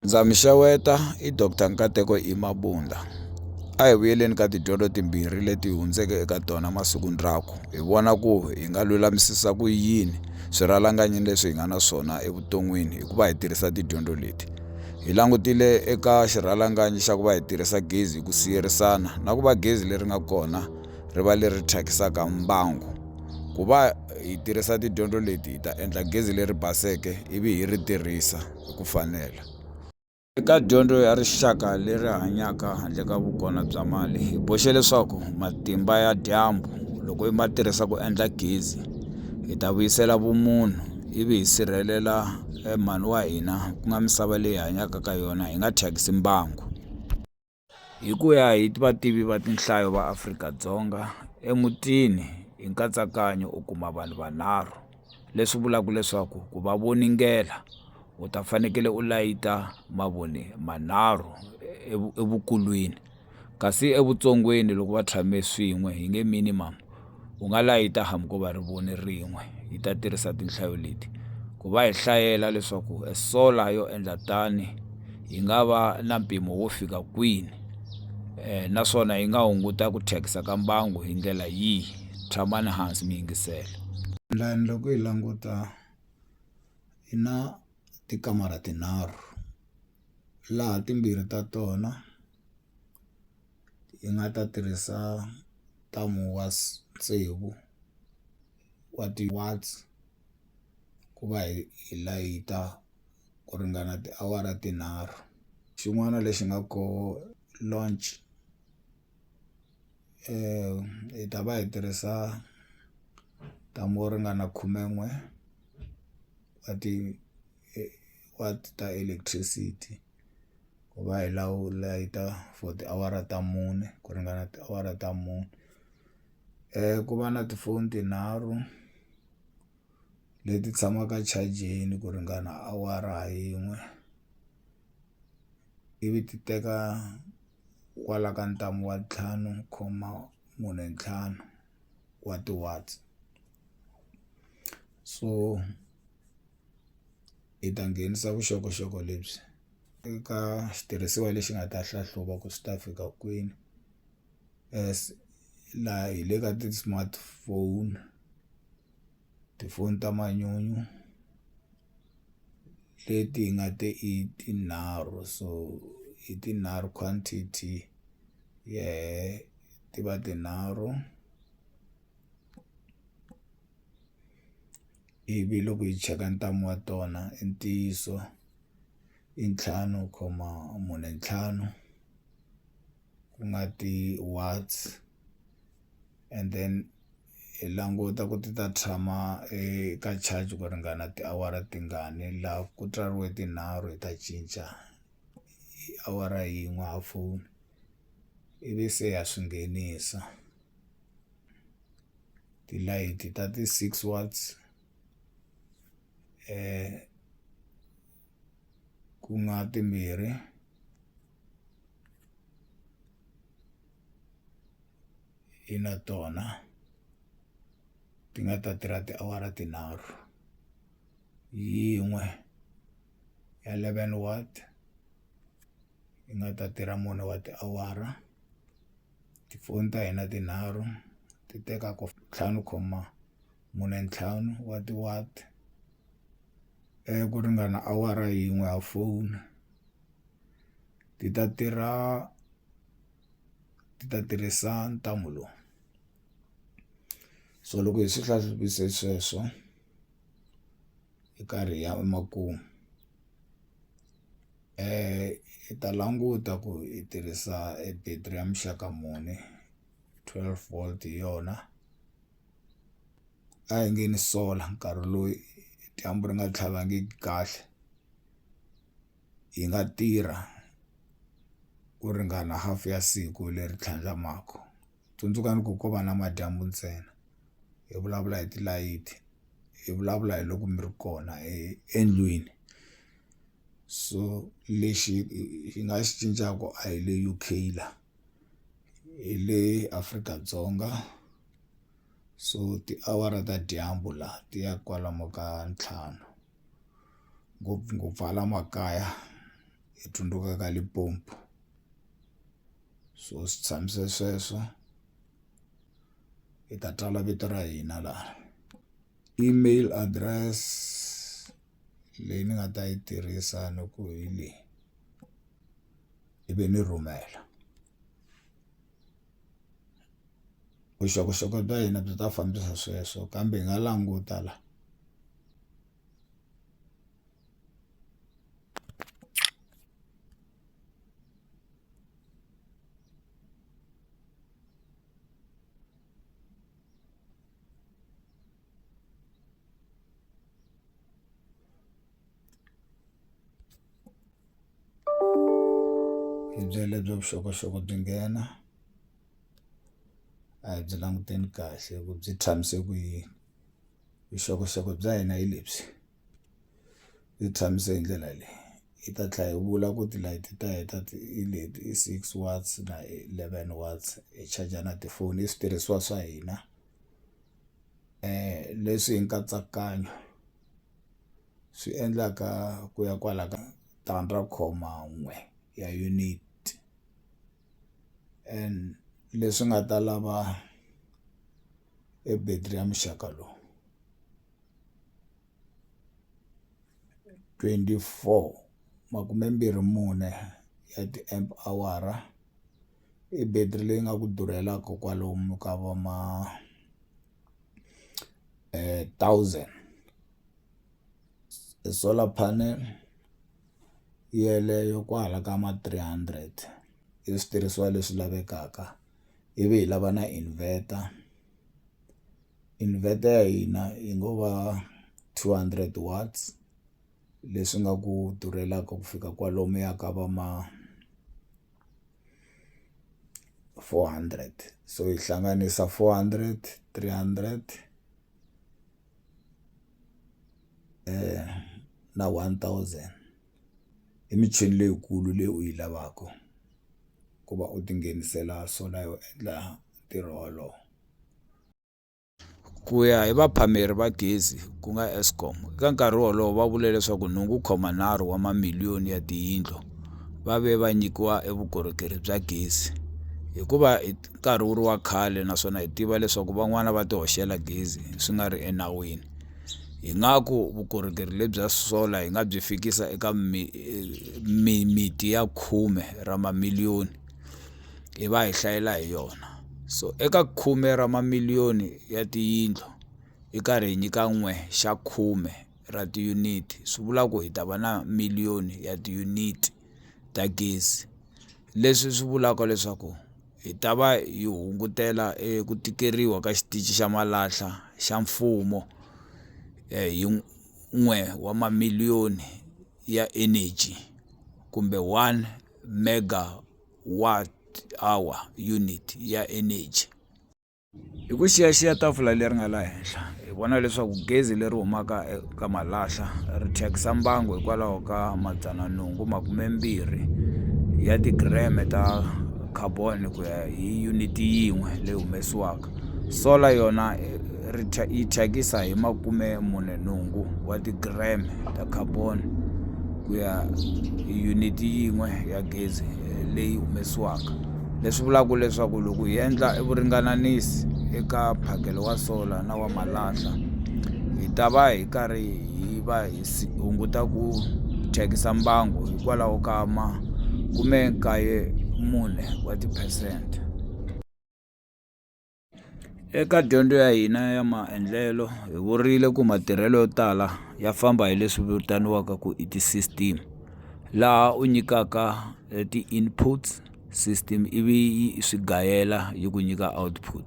Ndza mi xeweta i Doctor Nkateko I Mabunda a hi vuyeleni ka tidyondzo timbirhi leti hi hundzeke eka tona masiku ndzhaku hi vona ku hi nga lulamisisa ku yini swirhalanganyi leswi hi nga na swona evuton'wini hikuva hi tirhisa tidyondzo leti hi langutile eka xirhalanganyi xa ku va hi tirhisa gezi hi ku siyerisana na ku va gezi leri nga kona ri va leri thyakisaka mbangu ku va hi tirhisa tidyondzo leti hi ta endla gezi leri baseke ivi hi ri tirhisa hi ku fanela. Eka dyondzo ya rixaka leri hanyaka handle ka vukona bya mali hi boxe leswaku matimba ya dyambu loko hi ma tirhisa ku endla gezi hi ta vuyisela vumunhu ivi hi sirhelela eh, mhani wa hina ku nga misava leyi hanyaka ka yona hi nga thyakisi mbangu Hi ku ya hi vativi va tinhlayo va Afrika-Dzonga emutini hi nkatsakanyo u kuma vanhu vanharhu leswi vulaka leswaku ku va voningela u ta fanekele u layita mavoni manharhu evukulwini kasi evutsongweni loko va tshame swin'we hi nge minimam. U nga layita hambi ko va ri voni rin'we. Hi ta tirhisa tinhlayo leti ku va hi hlayela leswaku e sola yo endla tani yi nga va na mpimo wo fika kwini um naswona yi nga hunguta ku thyakisa ka mbangu hi ndlela yihi. Tshamani hansi mi yingisela. Lani loko hi languta hi na tikamara tinharhu laha timbirhi ta tona. yi nga ta tirhisa ntamu wa tsevu wa ti-watts ku va hi hi layita ku ringana tiawara tinharhu xin'wana lexi nga ko launch hi ta va hi tirhisa ntamu wo ringana khumen'we wa ti-watt ta electricity. ku va hi lawula yi ta for tiawara ta mune ku ringana tiawara ta mune ku va na tifoni tinharhu leti tshamaka chajini ku ringana awara ha yin'we ivi ti teka kwala ka ntamu wa ntlhanu comma mune ntlhanu wa ti-watts so. hi ta nghenisa vuxokoxoko lebyi eka xitirhisiwa lexi nga ta hlahluva ku swi ta fika kwini as laha hi le ka ti-smartphone tifoni ta manyunyu leti hi nga te i tinharhu so hi tinharhu quantity yeleyo ti va tinharhu. ivi loko hi cheka ntamu wa tona i ntiyiso i ntlhanu khoma mune ntlhanu ku nga ti watts and then hi languta ku ti ta tshama eka charge ku ringana tiawara tingani la ku tswariwe tinharhu hi ta cinca awara yin'we ha foni ivi se ha swi nghenisa. tilayiti ta ti-six watts ku nga timbirhi i na tona ti nga ta tirha tiawara tinharhu yin'we ya eleven watt yi nga ta tirha mune wa tiawara. Tifoni ta hina tinharhu ti teka ku ntlhanu khoma mune ntlhanu wa ti ku ringana awara yin'we ya foni ti ta tirha ti ta tirhisa ntambu lowu so loko hi swi sweswo hi karhi hi ya emakumu. I ta languta ku i tirhisa e battery ya muxaka muni twelve volt hi yona a hi nge ni solar nkarhi lowu dyambu ri nga tlhavangiki kahle yi nga tirha ku ringana half ya siku leri tlhandlamaku tsundzukani ku ko va namadyambu ntsena hi vulavula hi tilayiti hi vulavula hi loko mi ri kona endlwini. so lexi hi nga xi cincaka a hi le U_K la hi le Afrika-Dzonga so tiawara ta dyambu la ti ya kwalomu ka ntlhanu ngopfungopfu hala makaya hi tsundzuka ka Limpopo so swi tshamise sweswo hi ta tsala vito ra hina laha email address. leyi ni nga ta yi tirhisa ni ku hi leyi ivi ni rhumela vuxokoxoko bya hina byi ta fambisa sweswo kambe hi nga languta la hi byela lebyo vuxokoxoko byi nghena a hi byi languteni kahle ku byi tshamise ku yini vuxokoxoko bya hina hi lebyi byi tshamise hi ndlela leyi yi ta tlhela yi vula ku tilayiti ta heta i leti i six watts na eleven watts hi charger na tifoni i switirhisiwa swa hina leswi hi nkatsakanyo swi endlaka ku ya kwala ka tandza ra khoma n'we ya unit and leswi nga ta lava e battery ya muxaka lowu twenty four makume mbirhi mune ya ti-amp awara. i battery leyi nga ku durheliwaku kwalomu ka vo ma thousand e solar panel yeleyo kwala ka ma three hundred i switirhisiwa leswi lavekaka ivi hi lava na inverter inverter ya hina yi ngo va two hundred watts leswi nga ku durheliwaku ku fika kwalomuya ka va ma. four hundred so yi hlanganisa four hundred three hundred na one thousand i michini leyikulu leyi u yi lavaka ku va u tinghenisela swona yo endla ntirho wolowo. Ku ya hi vaphameri va gezi ku nga Eskom, eka nkarhi wolowo va vule leswaku nhungu wu khoma nharhu wa mamiliyoni ya tiyindlu va ve va nyikiwa evukorhokeri bya gezi. Hikuva hi nkarhi wu ri wa khale naswona hi tiva leswaku van'wana va ti hoxela gezi swi nga ri enawini hi nga ku vukorhokeri lebyi bya solar hi nga byi fikisa eka mimiti ya khume ra mamiliyoni. hi va hi hlayela hi yona so eka khume ra mamiliyoni ya tiyindlu hi karhi hi nyika n'we xa khume ra tiyuniti swi vula ku hi ta va na miliyoni ya tiyuniti ta gezi leswi swi vulaka leswaku hi ta va hi hungutela eku tikeriwa ka xitichi xa malahla xa mfumo hi n'we wa mamiliyoni ya energy kumbe one. megawatt-hour unit ya energy hi ku xiyaxiya tafula leri nga la henhla hi vona leswaku gezi leri humaka eka malahla ri thyakisa mbangu hikwalaho ka madzana nhungu makumembirhi ya ti-gram ta carbon ku ya hi unit yin'we leyi humesiwaka. Solar yona ri yi thyakisa hi makume mune nhungu wa ti-gram ta carbon ku ya hi unit yin'we ya gezi leyi humesiwaka leswi vulaka leswaku loko hi endla vuringananisi eka phakelo wa solar na wa malahla hi ta va hi karhi hi va hi hunguta ku thyakisa mbangu hikwalaho ka makume nkaye mune wa ti-percent. Eka dyondzo ya hina ya maendlelo hi vurile ku matirhelo yo tala ya famba hi leswi vitaniwaka ku i ti-system laha u nyikaka ti-inputs system ivi yi swi gayela yi ku nyika output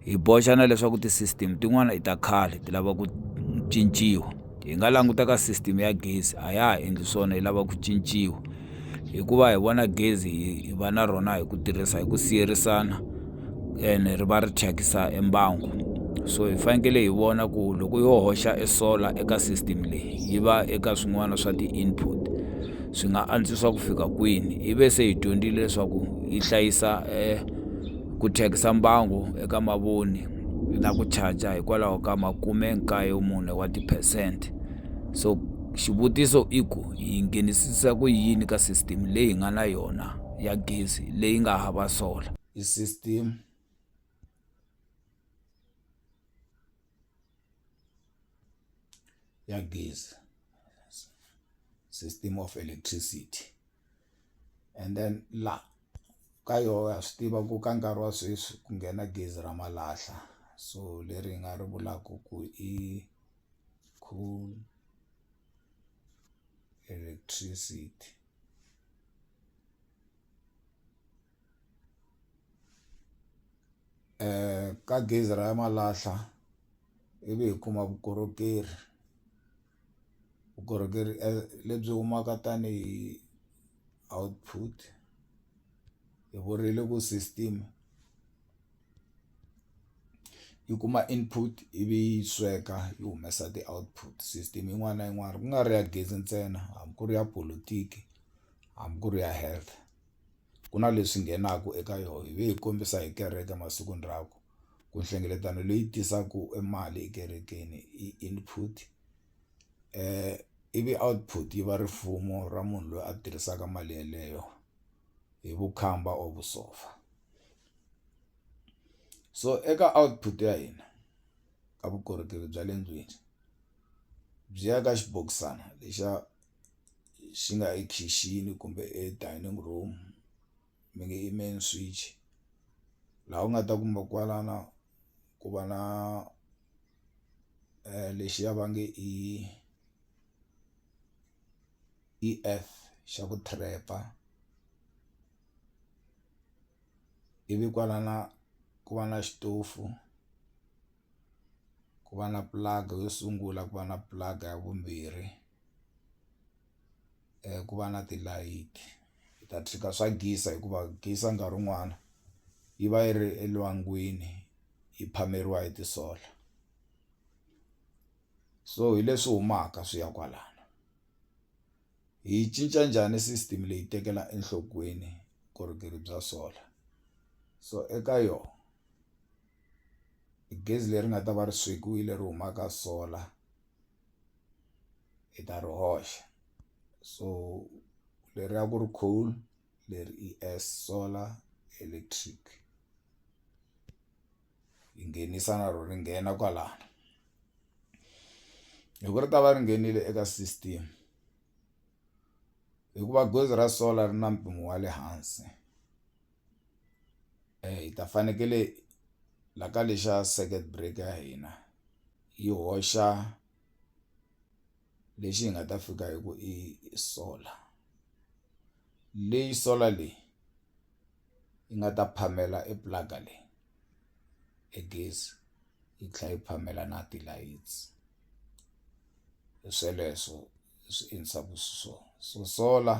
hi boxa na leswaku ti-system tin'wana i ta khale ti lava ku cinciwa. hi nga languta ka system ya gezi a ya ha endli swona yi lava ku cinciwa hikuva hi vona gezi hi va na rona hi ku tirhisa hi ku siyerisana ene ri va ri thyakisa embangu so hi fanekele hi vona ku loko yo hoxa e solar eka system leyi yi va eka swin'wana swa ti-input swi nga antswisa ku fika kwini hi ve se hi dyondzile leswaku yi hlayisa um ku thyakisa mbangu eka mavoni na ku charger hikwalaho ka makume nkaye mune wa tiphesente so xivutiso i ku yi nghenisisa ku yini ka system leyi nga na yona ya gezi leyi nga hava sola i system ya gezi system of electricity and then la ka yoho wa swi tiva ku ka nkarhi wa sweswi ku nghena gezi ra malahla so leri hi nga ri vulaku ku i coal electricity ka gezi ra malahla ivi hi kuma vukorhokeri. vukorhokeri lebyi humaka tanihi output hi vurile ku system yi kuma input ivi yi sweka yi humesa ti-output system yin'wana na yin'wana ku nga ri ya gezi ntsena hambi ku ri ya polotiki hambi ku ri ya health ku na leswi nghenaka eka yona hi ve hi kombisa hi kereke masikwini rakwe. ku nhlengeletano leyi tisaku e mali ekerekeni i input ivi output yi va rifumo ra munhu loyi a tirhisaka mali yeleyo hi vukhamba or vusopfa so eka output ya hina ka vukorhokeri bya le ndlwini byi ya ka xibokisana lexa xi nga ekhixini kumbe e dining room. mi nge i main switch laha u nga ta kuma kwalano ku va na lexiya va nge i i F xa ku trap ivi kwalana ku va na xitofu. ku va na pulanga yo sungula ku va na pulanga ya vumbirhi ku va na tilayiti hi ta tshika swa gezi hikuva gezi nkarhi wun'wana yi va yi ri elwangwini yi phameriwa hi ti-solar so hi leswi humaka swi ya kwalano hi yi cinca njhani system leyi tekela enhlokweni vukorhokeri bya solar so eka yona. i gezi leri nga ta va ri swekiwile ri huma ka solar hi ta ri hoxa so leri a ku ri coal leri i as solar electric yi nghenisa na ro ri nghena kwalano loko ri ta va ri nghenile eka system hikuva gezi ra solar ri na mpimo wa le hansi. hi ta fanekele la ka lexa circuit breaker ya hina yi hoxa lexi hi nga ta fika hi ku i solar leyi solar leyi yi nga ta phamela e plaga leyi e gezi yi tlhela yi phamela na ti-lights hi sweleswo hi swi endlisaku xiswona so solar.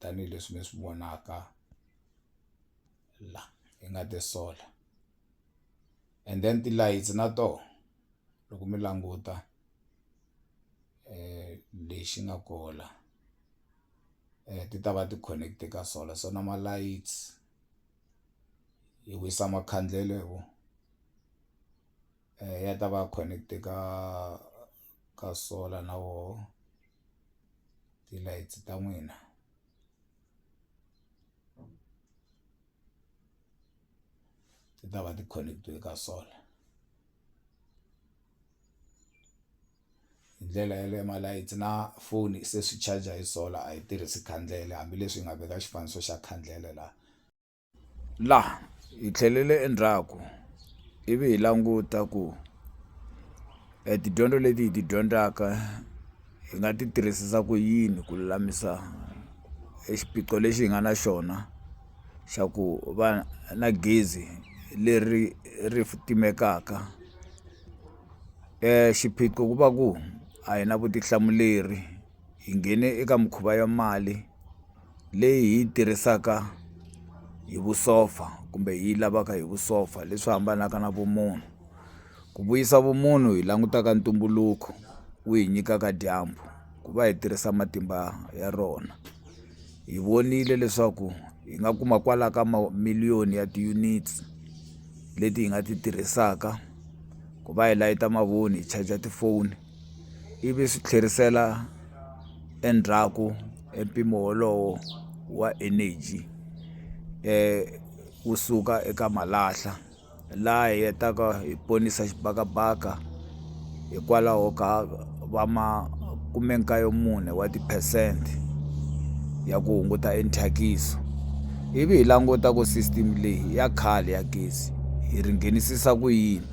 tanihileswi mi swi vonaka la hi nga ti sola and then tilayitsi na tona loko mi languta lexi nga koho la ti ta va ti connect-e ka solar so na malayithi yi wisa makhandlele hi wona ya ta va connect-e ka ka solar na wona. ti-lights ta n'wina ti ta va ti connect-iwe ka solar hi ndlela yaleyo ma-lights na foni se swi charger hi solar a yi tirhisi khandlele hambileswi hi nga veka xifaniso xa khandlele la. Laha hi tlhelele endzhaku ivi hi languta ku e tidyondzo leti hi ti dyondzaka hi nga ti tirhisisa ku yini ku lulamisa e xiphiqo lexi hi nga na xona xa ku va na gezi leri ri timekaka xiphiqo ku va ku a hi na vutihlamuleri hi nghene eka mikhuva ya mali. leyi hi yi tirhisaka hi vusopfa kumbe hi yi lavaka hi vusopfa leswi hambanaka na vumunhu ku vuyisa vumunhu hi langutaka ntumbuluko wu hi nyikaka dyambu ku va hi tirhisa matimba ya rona hi vonile leswaku hi nga kuma kwala ka miliyoni ya ti-units leti hi nga ti tirhisaka ku va hi layita mavoni hi charger tifoni. ivi swi tlherisela endzhaku e mpimo wolowo wa energy wu suka eka malahla laha hi hetaka hi ponisa xibakabaka hikwalaho ka va ma kume kaye mune wa ti-percent ya ku hunguta e thyakisi ivi hi languta ku system leyi ya khale ya gezi hi ri nghenisisa ku yini.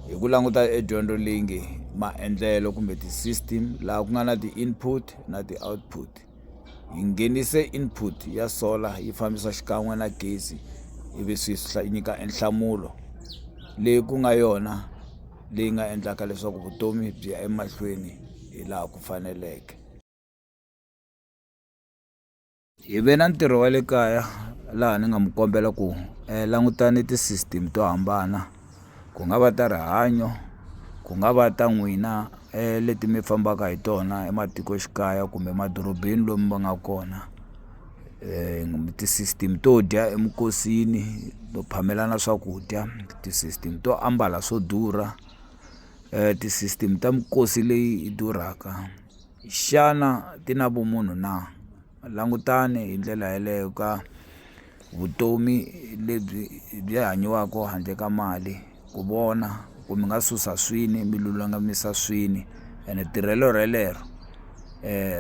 hi ku languta e dyondzo leyi nge maendlelo kumbe ti-system laha ku nga na ti-input na ti-output hi nghenise input ya solar yi fambisa xikan'we na gezi ivi swi nyika e nhlamulo leyi ku nga yona leyi nga endlaka leswaku vutomi byi ya emahlweni hi laha ku faneleke. hi ve na ntirho wa le kaya laha ni nga mi kombela ku um langutani ti-system to hambana ku nga va ta rihanyo ku nga va ta n'wina um leti mi fambaka hi tona ematikoxikaya kumbe emadorobeni lomu va nga kona um ti-system to dya eminkosini to phamelana swakudya ti-system to ambala swo durha um ti-system ta minkosi leyi durhaka. Xana ti na vumunhu na? Langutani hi ndlela yeleyo ka vutomi lebyi byi hanyiwaka handle ka mali ku vona ku mi nga susa swini mi lulamisa swini ene tirhelo relero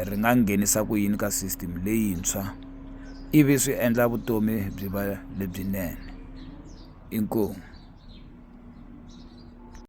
ri nga nghenisa ku yini ka system leyintshwa ivi swi endla vutomi byi va lebyinene inkomu.